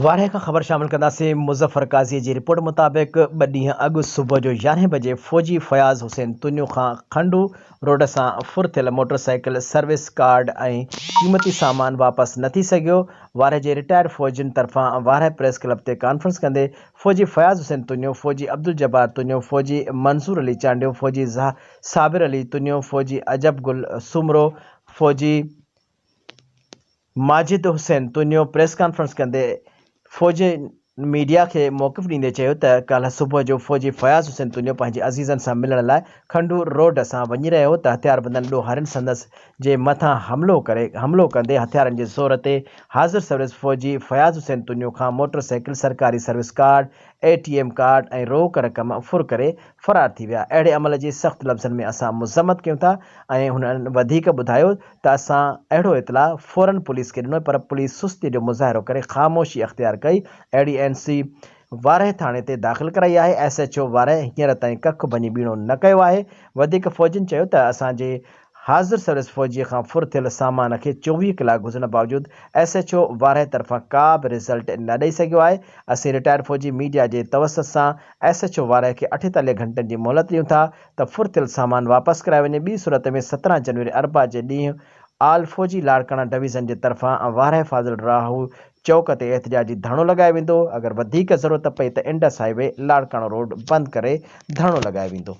وارهيه کان خبر شامل ڪنداسين، مظفر قاضيء جي رپورٽ مطابق ٻه ڏينهن اڳ صبح جو يارهين بجي فوجي فياض حسين تنيو کان کنڊو روڊ سان ڦر ٿيل موٽر سائيڪل، سروس ڪارڊ ۽ قيمتي سامان واپس نه ٿي سگهيو، وارهيه جي رٽائرڊ فوجين طرفان وارهيه پريس ڪلب تي ڪانفرنس ڪندي فوجي فياض حسين تنيو، فوجي عبدالجبار تنيو، فوجي منظور علي چانڊيو، فوجي صابر علي تنيو، فوجي عجب گل سومرو، فوجي ماجد حسين تونيو پريس ڪانفرنس ڪندي فوجي ميڊيا کي موقف ڏيندي چيو ته ڪالهه صبح جو فوجي فياض حسين تونيو پنهنجي عزيزن سان ملڻ لاء کنڊور روڊ سان وڃي رهيو هو ته هٿياربندن ڏوهارين سندس جي مٿان حملو ڪري حملو ڪندي هٿيارن جي زور تي حاضر سروس فوجي فياض حسين تونيو کان موٽر سائيڪل سرڪاري service card A T M card ۽ روڪ رقم ڦر ڪري فرار ٿي ويا، اهڙي عمل جي سخت لفظن ۾ اسان مذمت ڪيون ٿا ۽ هنن وڌيڪ ٻڌايو ته اسان اهڙو اطلاع فورن پوليس کي ڏنو پر پوليس سستي جو مظاهرو ڪري خاموشي اختيار ڪئي اهڙي اين سي وارهه ٿاڻي تي داخل ڪرائي آهي ايس ايڇ او وارهه هينئر تائين ڪک ڀڃي ٻيڻو نه ڪيو آهي وڌيڪ فوجين چيو ته اسان جي حاضر سروس فوجي کان ڦر ٿيل سامان کي چوويهه ڪلاڪ گذرڻ باوجود ايس ايڇ او وارهي طرفان ڪا به رزلٽ نه ڏئي سگهيو آهي، اسين رٽائرڊ فوجي ميڊيا جي توسط سان ايس ايڇ او وارهي کي اٺيتاليهه گهنٽن جي مهلت ڏيون ٿا ته ڦر ٿيل سامان واپس ڪرايو وڃي ٻي صورت ۾ سترهن جنوري اربع جي ڏينهن آل فوجي لاڙڪاڻا ڊويزن جي طرفان وارهي فاضل راهو چوڪ تي احتجاجي ڌرڻو لڳايو ويندو اگر وڌيڪ ضرورت پئي ته Indus highway Larkana road بند ڪري ڌرڻو لڳايو ويندو.